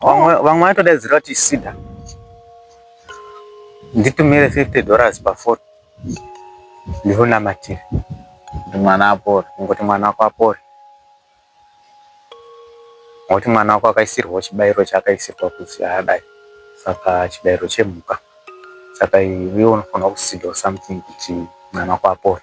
vamwe vamwe vatodaidzira kuti sida nditumire 50 dollars pafoni ndikunamatire kuti mwana apore ngokuti mwana wako apore ngokuti mwana wako akaisirwawo chibayiro chaakaisirwa kuti adai saka chibayiro chemhuka saka iwe unofanira kusidawo something kuti mwana wako apore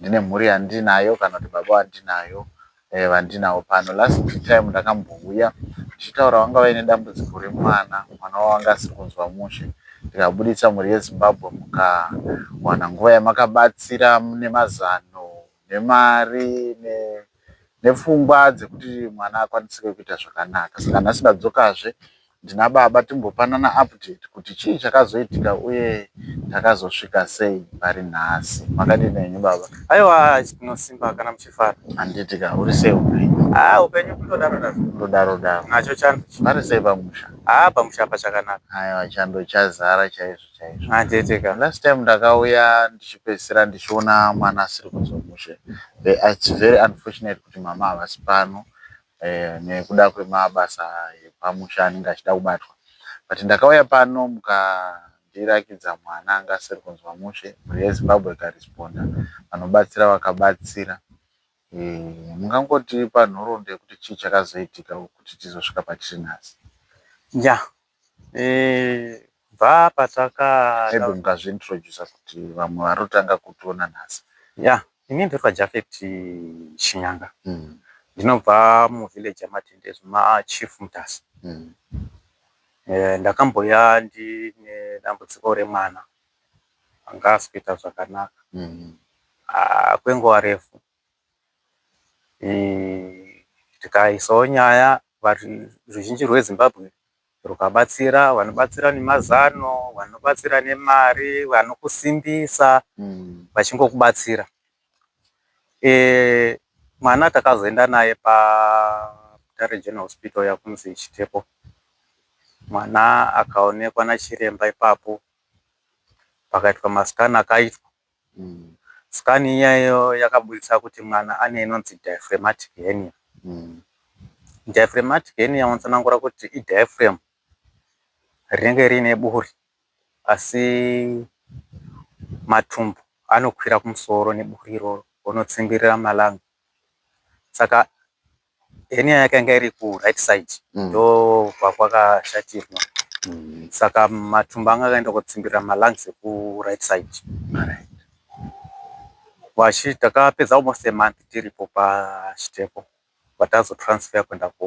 ndine mhuri yandinayo kana kuti baba vandinayo vandinawo pano last time ndakambouya ndichitaura vanga vaine dambudziko remwana mwana wavo anga asiri kunzwa mushe ndikabuditsa mhuri yezimbabwe mukawana nguva yamakabatsira nemazano nemari ne nepfungwa dzekuti mwana akwanisike kuita zvakanaka saka nhasi ndadzokazve ndina baba timbopanana update kuti chii chakazoitika uye takazosvika sei pari nhasi. Makadini henyu baba? Aiwa tinosimba kana muchifara. Handiti ka uri sei upenyu? Ah upenyu kundodaro daro. Kundodaro daro. Nacho chando. Pari sei pamusha? Ah pamusha apa chakanaka. Aiwa chando chazara chaizvo. chaizvo. Haa tete ka last time ndakauya ndichipedzisira ndichiona mwana asiri kunzwa mushe its very unfortunate kuti mama havasi pano nekuda kwemabasa epamusha anenge achida kubatwa but ndakauya pano mukandirakidza mwana anga asiri kunzwa mushe. Mhuri yeZimbabwe ikaresponda vanobatsira vakabatsira. Mungangotipa nhoroondo yekuti chii chakazoitika kuti tizosvika patiri nhasi. Yah Kubva pataka maybe mukazvi introducer kuti vamwe vari kutanga kutiona nhasi. Yeah ini ndoitwa Japheth Shinyanga ndinobva mu village ye Matendezi kuna Chief Mutasa. Ndakambouya ndine dambudziko remwana anga asikuita zvakanaka kwenguva refu. Tikaisawo nyaya ruzhinji rweZimbabwe rwukabatsira vanobatsira nemazano, vanobatsira nemari, vanokusimbisa vachingokubatsira. Mwana takazoenda naye paButare General Hospital iya kunonzi Chitepo. Mwana akaonekwa nachiremba ipapo pakaitwa mascan akaitwa. Scan iya iyo yakaburitsa kuti mwana ane inonzi diaphragmatic hernia. Diaphragmatic hernia unotsanangura kuti i diaphragm rinenge riine buri asi matumbu anokwira kumusoro neburi iroro onotsimbirira malung saka. Henia yake yanga iri ku right side ndokwa kwakashatirwa saka matumbu anga akaenda kotsimbirira ma lungs eku right side kwachi takapedza almost a month tiripo pa Sitepo kubva tazo transfer kuenda ku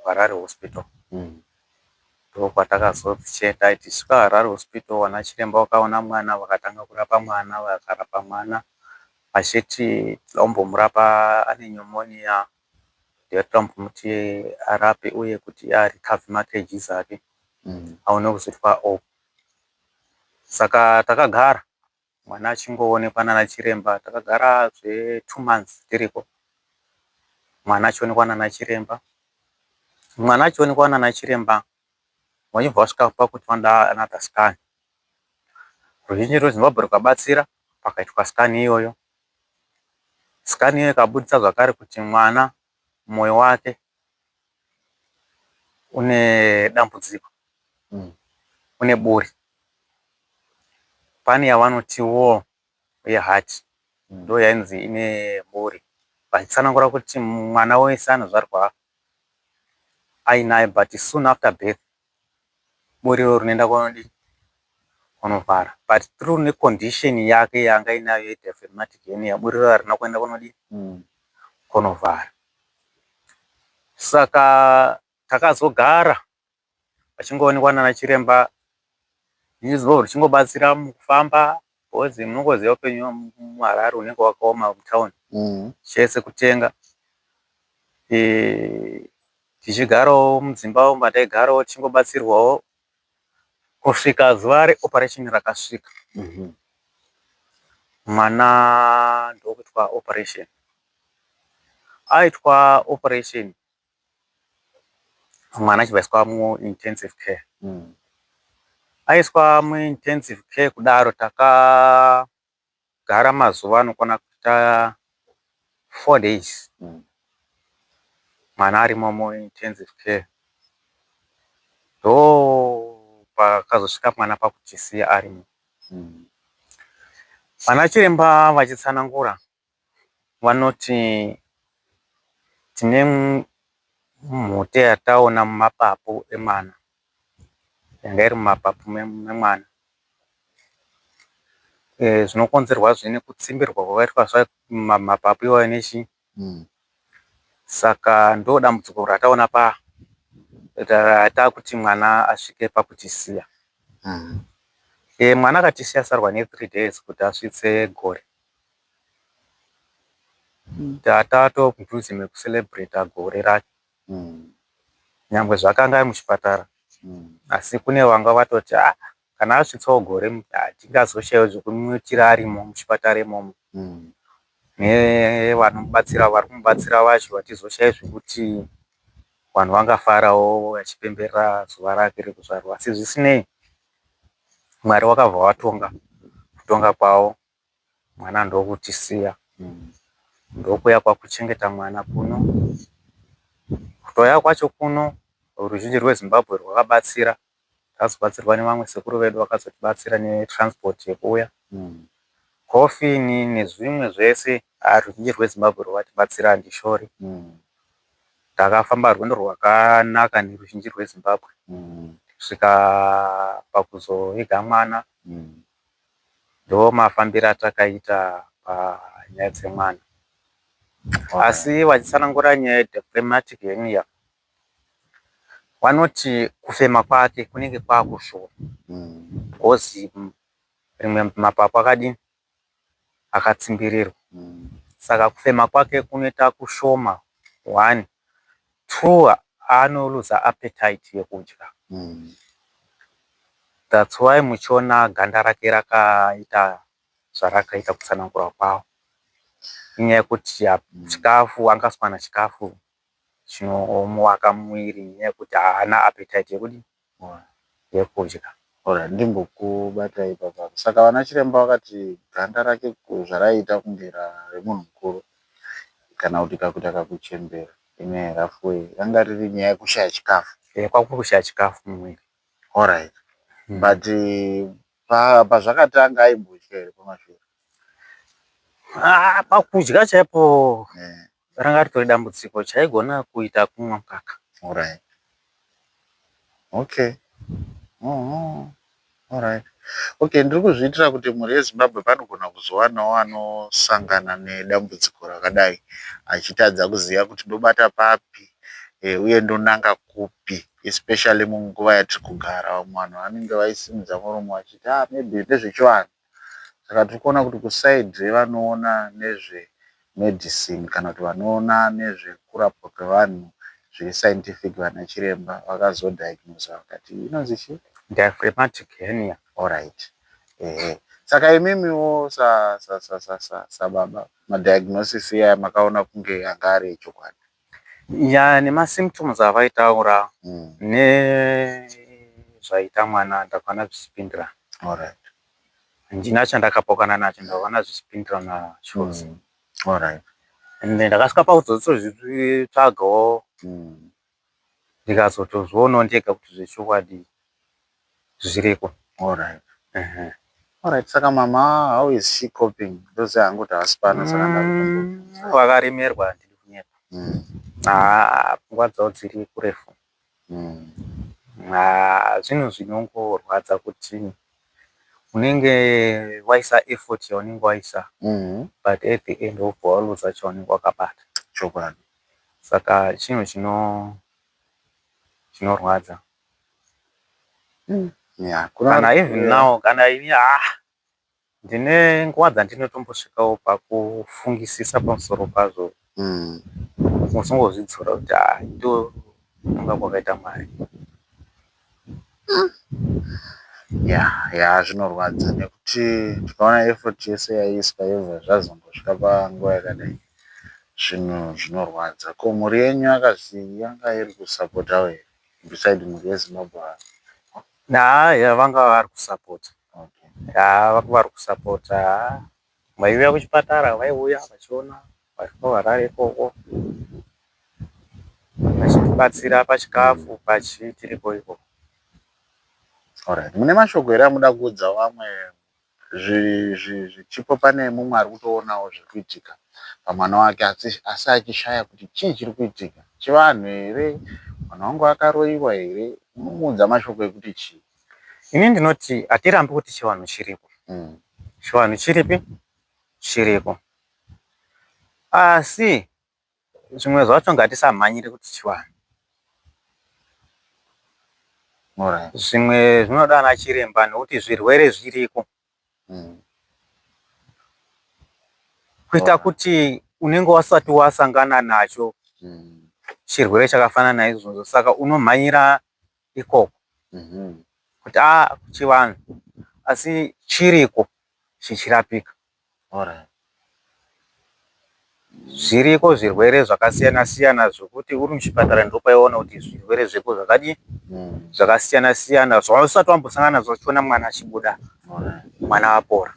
Harare hospital ndokwatakazo chenda tichisvika Harare hospital vanachiremba vakaona mwana vakatanga kurapa mwana vakarapa mwana Achiti tinombomurapa ane pneumonia yatinoda kumbomuti arape uye kuti a recover ma kgs ake aone kuzorwa off. Saka takagara mwana achingoonekwa nana chiremba. Takagara zve two months tiriko mwana achionekwa nana chiremba. Mwana achionekwa nana chiremba Vachibva vasvika pakuti vanoda another scan. Ruzhinji rweZimbabwe rwukabatsira pakaitwa scan iyoyo. Scan iyoyo ikabuditsa zvakare kuti mwana moyo wake une dambudziko, une buri. Pane yavanotiwo uye heart ndiyo yainzi ine buri vachitsanangura kuti mwana wese anozvarwa ainayo but soon after birth buri iro rinoenda kunodii kunovhara but through necondition yake yanga inayo yedefematic henia buri iro harina kuenda kunodii mm. kunovhara saka takazogara vachingoonekwa nana chiremba nezuro richingobatsira mukufamba bcoz munongoziva upenyu muHarare hunenge hwakaoma mutown chese kutenga tichigarawo mudzimba umu mataigarawo tichingobatsirwawo kusvika zuva reoperation rakasvika mwana ndokuitwa operation aitwa operation Mwana achibva aiswa muintensive care aiswa muintensive care kudaro takagara mazuva anokwana kuita four days mwana arimo muintensive care ndopakazosvika mwana pakutisiya arimo. Vanachiremba vachitsanangura. vanoti tine mhute yataona mumapapu emwana yanga iri mumapapu memwana zvinokonzerwazve nekutsimbirwa kwakaitwa mapapu iwayo nechii saka ndodambudziko rataona paya ratakuti mwana asvike pakutisiya mwana akatisiya asara nethree days kuti asvitse gore. Tata too mudhuze meku celebrater gore racho nyangwe zvakanga ari muchipatara asi kune vanga vatoti haa kana asvitsawo gore hatingazoshaiwo zvekumuitira arimo muchipatara imomo nevanomubatsira vari kumubatsira vacho vatizoshaiwo zvekuti vanhu vangafarawo vachipemberera zuva rake rekuzvarwa asi zvisinei Mwari wakabva watonga kutonga kwavo. Mwana ndokutisiya ndokuuya kwakuchengeta mwana kuno. Kutouya kwacho kuno ruzhinji rweZimbabwe rwakabatsira. Takazobatsirwa nevamwe sekuru vedu vakazotibatsira netransport yekuuya. Coffin nezvimwe zvese haa ruzhinji rweZimbabwe rwakatibatsira handishori. Takafamba rwendo rwakanaka neruzhinji rweZimbabwe kusvika pakuzoviga mwana. ndomafambiro atakaita panyaya dzemwana asi vachitsanangura nyaya yedeplematic hernia vanoti kufema kwake kunenge kwakushoma bcoz rimwe mapapu akadii akatsimbirirwa saka kufema kwake kunoita kushoma one True anoluza appetite yekudya that's why muchiona ganda rake rakaita zvarakaita kutsanangura kwawo inyaya yekuti chikafu anga asi kuwana chikafu chinomuwaka muviri inyaya yekuti haana appetite yekudii. yekudya or ndimbokubata ipapa saka vana chiremba vakati ganda rake zvaraiita kunge remunhu mukuru kana kuti kakuita kakuchembera in a rough way ranga riri nyaya yekushaya chikafu ehe kwanga kuri kushaya chikafu mumwiri alright but pazvakatanga aimbodya here pamashure? Haa pakudya chaipo Ranga ritori dambudziko chaigona kuita kumwa mukaka. Alright. Okay. Uhum. Alright. Okay, ndiri kuzviitira kuti mhuri yeZimbabwe panogona kuzowanawo anosangana nedambudziko rakadai achitadza kuziva kuti ndobata papi eh, uye ndonanga kupi especially munguva yatiri kugara. Vamwe vanhu vanenge vaisimudza muromo vachiti ah maybe ndezvechivanhu. Saka tiri kuona kuti kuside revanoona nezve medicine kana kuti vanoona nezvekurapwa kwevanhu zviri scientific vana chiremba vakazo diagnoser vakati inonzi chii? Diaphragmatic hernia. Horaiti ehe saka imimiwo sa sa sa sa sababa madiagnosis iyaya makaona kunge anga ari echokwadi? Yaa nemasymptoms avaitaura mm. nezvaita mwana ndakaona zvichipindirana alright handina chandakapokana nacho ndakaona zvichipindirana chose mm. alright and ndakasvika pakuzotozvitsvagawo mm. ndikazotozvionawo ndega kuti zvechokwadi zviriko. Alright ehe alright saka mama how is she coping ndoziva hangu kuti havasi pano saka ndakutombobvunza. Umm vakaremerwa handidi kunyepa haa pfungwa dzavo dziri kurefu haa zvinhu zvinongorwadza kuti unenge waisa effort yaunenge waisa but at the end wobva waluza chaunenge wakabata. Chokwadi. Saka chinhu chinorwadza. mm. yeah, kana even yeah. now kana ini ah ndine nguva dzandinotombosvikawo pakufungisisa pamusoro pazvo mm. musongozvidzora kuti ah ndo kunga kwakaita mwari mm. ya ya zvinorwadza nekuti tikaona effort yese yaiiswa yobva zvazombosvika panguva yakadai zvinhu zvinorwadza ko mhuri yenyu akazii yanga iri kusapotawo here beside mhuri yezimbabwe ava haa yaa vanga vari kusapota haa vanga vari kusapota haa vaiuya kuchipatara vaiuya vachiona variko harare ikoko vachitibatsira pachikafu pachii tiriko ikoko alright mune mashoko here amuda kuudza vamwe Zvipo pane mumwe ari kutoonawo zviri kuitika pamwana wake asi achishaya kuti chii chiri kuitika. Chivanhu here? Mwana wangu akaroiwa here? Unomuudza mashoko ekuti chii? Ini ndinoti hatirambi kuti chivanhu chiriko. Chivanhu chiripi? Chiriko. Asi Zvimwe zvacho ngatisamhanyire kuti chivanhu. Zvimwe zvinoda ana chiremba nekuti zvirwere zviriko. Kuita kuti unenge wasati wasangana nacho chirwere chakafanana naizvozvo saka unomhanyira ikoko kuti aa kuchivanhu asi chiriko chichirapika zviriko zvirwere zvakasiyana siyana zvekuti uri muchipatara ndopaunoona kuti zvirwere zviriko zvakadii zvakasiyana siyana zvausati wambosangana nazvo uchiona mwana achibuda mwana apora.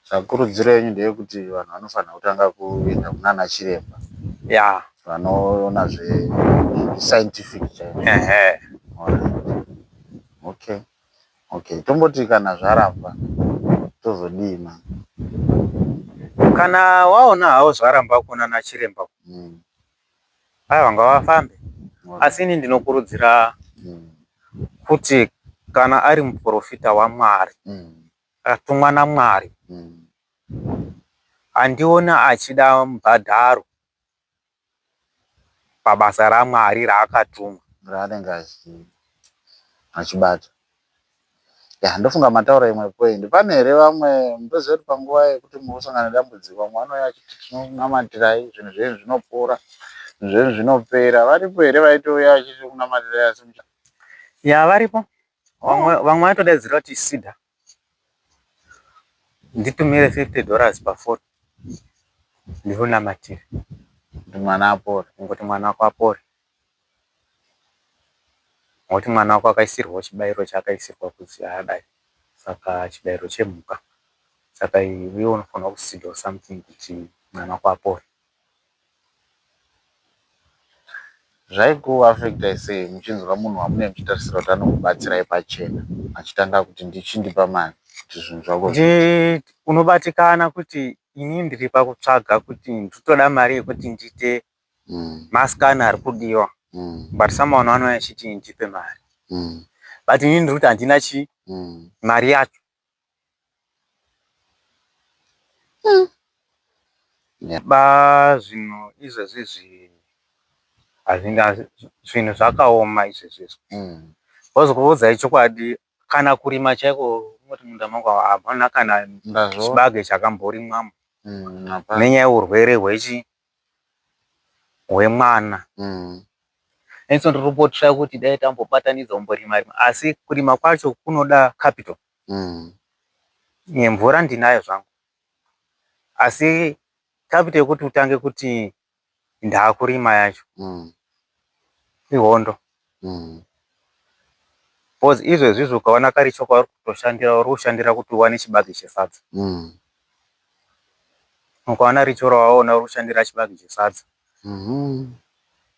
Tsvakurudziro yenyu ndeyekuti vanhu vanofanirwa kutanga kuenda kunana chiremba vanoona zvesainifiki chaiko okay okay tomboti kana zvaramba tozodii mani. Kana waona hawo zvaramba kunana chiremba uko. Aiwa ngavafambe asi ini ndinokurudzira kuti kana ari muporofita waMwari atumwa naMwari handioni achida mubhadharo pabasa raMwari raakatumwa raanenge achibata. Yaa ndofunga mataura imwe point pane here vamwe mutoziva kuti panguva yekuti muri kusangana nedambudziko vamwe vanouya vachiti tinokunamatirai zvinhu zvenyu zvinopora zvinhu zvenyu zvinopera varipo here vaitouya vachiti tinokunamatirai asi mucha Yaa varipo vamwe oh. vamwe vanotodaidzira kuti sida nditumire 50 dollars pafoni ndikunamatire kuti mwana apore ngoti mwana wako apore Nekuti mwana wako akaisirwa chibairo chaakaisirwa kuzi haadai saka chibairo chemhuka saka iwe unofanirwa kusidhawo something kuti mwana wako apore. Zvaiko affectai sei muchinzwa munhu wamunenge muchitarisira kuti anokubatsirai pachena achitanga kuti ndichindipa mari kuti zvinhu zvako zviite. Unobatikana kuti ini ndiri pakutsvaga kuti ndiri kutoda mari yekuti ndiite mm. maskana ari kudiwa mm. but someone anouya achiti ndipe mari mm. but ini ndiri kuti handina chii mm. mari yacho mm. yeah. ba zvinhu izvezvi zvi hazvinga zvinhu zvakaoma izvezvizvo mm. bcause kuvudzai chokwadi kana kurima chaiko moti munda mangu hamana kana chibage chakamborimwamo mm, nenyaya yeurwere hwechi hwemwana mm. Enso ndiripotsva kuti dai tambobatanidza umborima rima asi kurima kwacho kunoda capital mm. Nemvura ndinayo zvangu asi capital yekuti utange kuti ndaakurima yacho mm. Ihondo umm coz izvezvizvi ukaona kari cho kwauri kutoshandira uri kushandira kuti uwane chibage chesadza umm ukaona richo rawaona uri kushandira chibage chesadza umm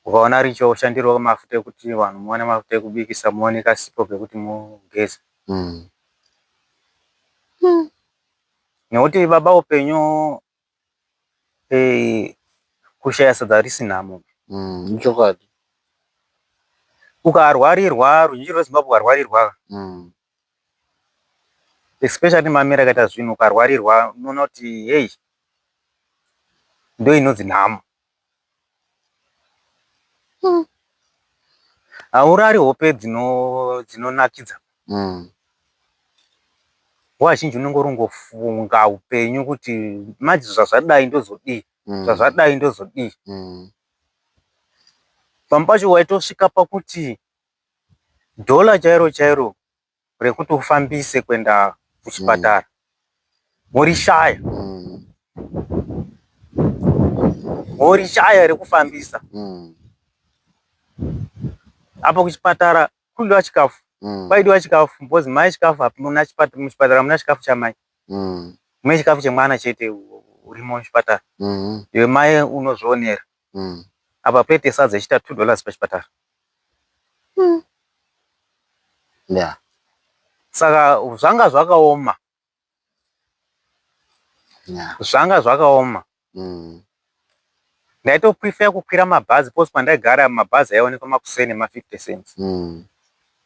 ukaona richo woshandirwa mafuta ekuti vanhu muwane mafuta ekubikisa muwane kasipo kekuti mugeze umm nekuti baba upenyu Eeh kushaya sadza harisi nhamo. Umm ichokwadi. Ukarwarirwa ruzhinji rweZimbabwe ukarwarirwa umm especially mamiro akaita zvinhu ukarwarirwa unoona kuti heyi ndoinonzi nhamo. Mm. Haurari hope dzino dzinonakidza. Mm. Nguva zhinji unenge uringofunga upenyu kuti manje zvazvadai ndozodii. Mm. Zvazvadai ndozodii. Mm. Pamwe pacho waitosvika pakuti dollar chairo chairo rekuti ufambise kuenda kuchipatara morishaya morishaya rekufambisa apa kuchipatara kudiwa chikafu kwaidiwa chikafu because mai chikafu hapuna muchipatara hamuna chikafu chamai mune chikafu chemwana chete urimo muchipatara iwe mai unozvionera Umm apa pete sadza ichiita two dollars pachipatara umm yeah saka zvanga zvakaoma yeah zvanga zvakaoma umm ndaito prefer kukwira mabhazi because kwandaigara mabhazi aionekwa makuseni nema 50 cents umm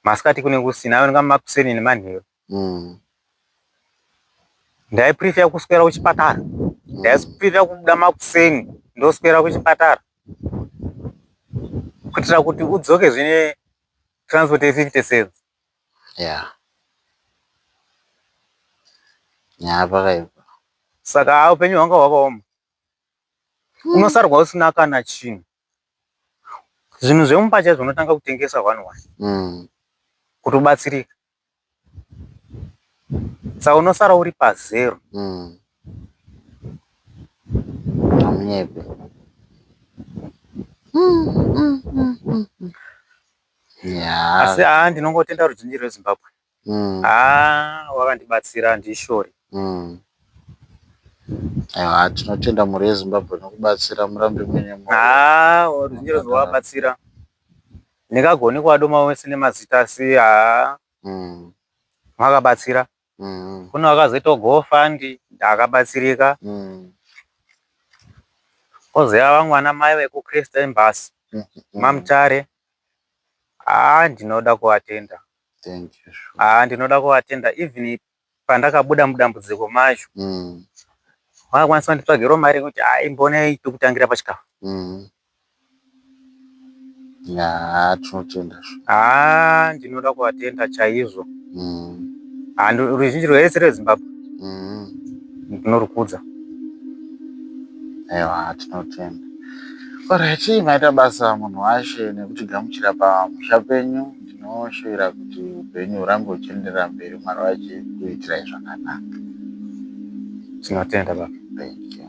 masikati kune kusina aionekwa makuseni nemanheru mm. Ndaiprefer kuswera kuchipatara mm. Ndaiprefer kubuda makuseni ndoswera kuchipatara kuitira kuti udzoke zvine transport ye 50 cents yeah. nyaya pakaipa saka upenyu hwanga hwakaoma mm. unosarwa usina kana chinhu Zvinhu zvemumba chaizvo unotanga kutengesa one one mm. kuti ubatsirike sa unosara uri pazero mm. amunyepe mm, mm, mm, mm. yeah. asi haa ndinongotenda ruzhinji rwezimbabwe mm. haa wakandibatsira handishori mm. haa tinotenda mhuri yezimbabwe nokubatsira murambe muine moyo haa ruzhinji rwabatsira ndingagoni kuadoma wese nemazita asi haa mm. makabatsira mm. kune wakazoitawo gofandi ndakabatsirika mm. kozouya vamwe vana mai vekuchrist embasy mm -hmm. mamutare haa ndinoda kuatenda Thank you sure. Haa ndinoda kuvatenda even pandakabuda mudambudziko macho mm. vakwanisa kunditsvagirawo mari yekuti hai mbonei tokutangira pachikafu mm. yaa tinotenda haa ndinoda kuvatenda chaizvo mm. haa ruzhinji rwese rwezimbabwe mm. ndinorukudza ewa tinotenda Alright, maita basa munhu washe nekutigamuchira pamusha penyu. Ndinoshuvira kuti upenyu hurambe huchienderera mberi Mwari vachikuitirai zvakanaka. Tinotenda baba. Thank you.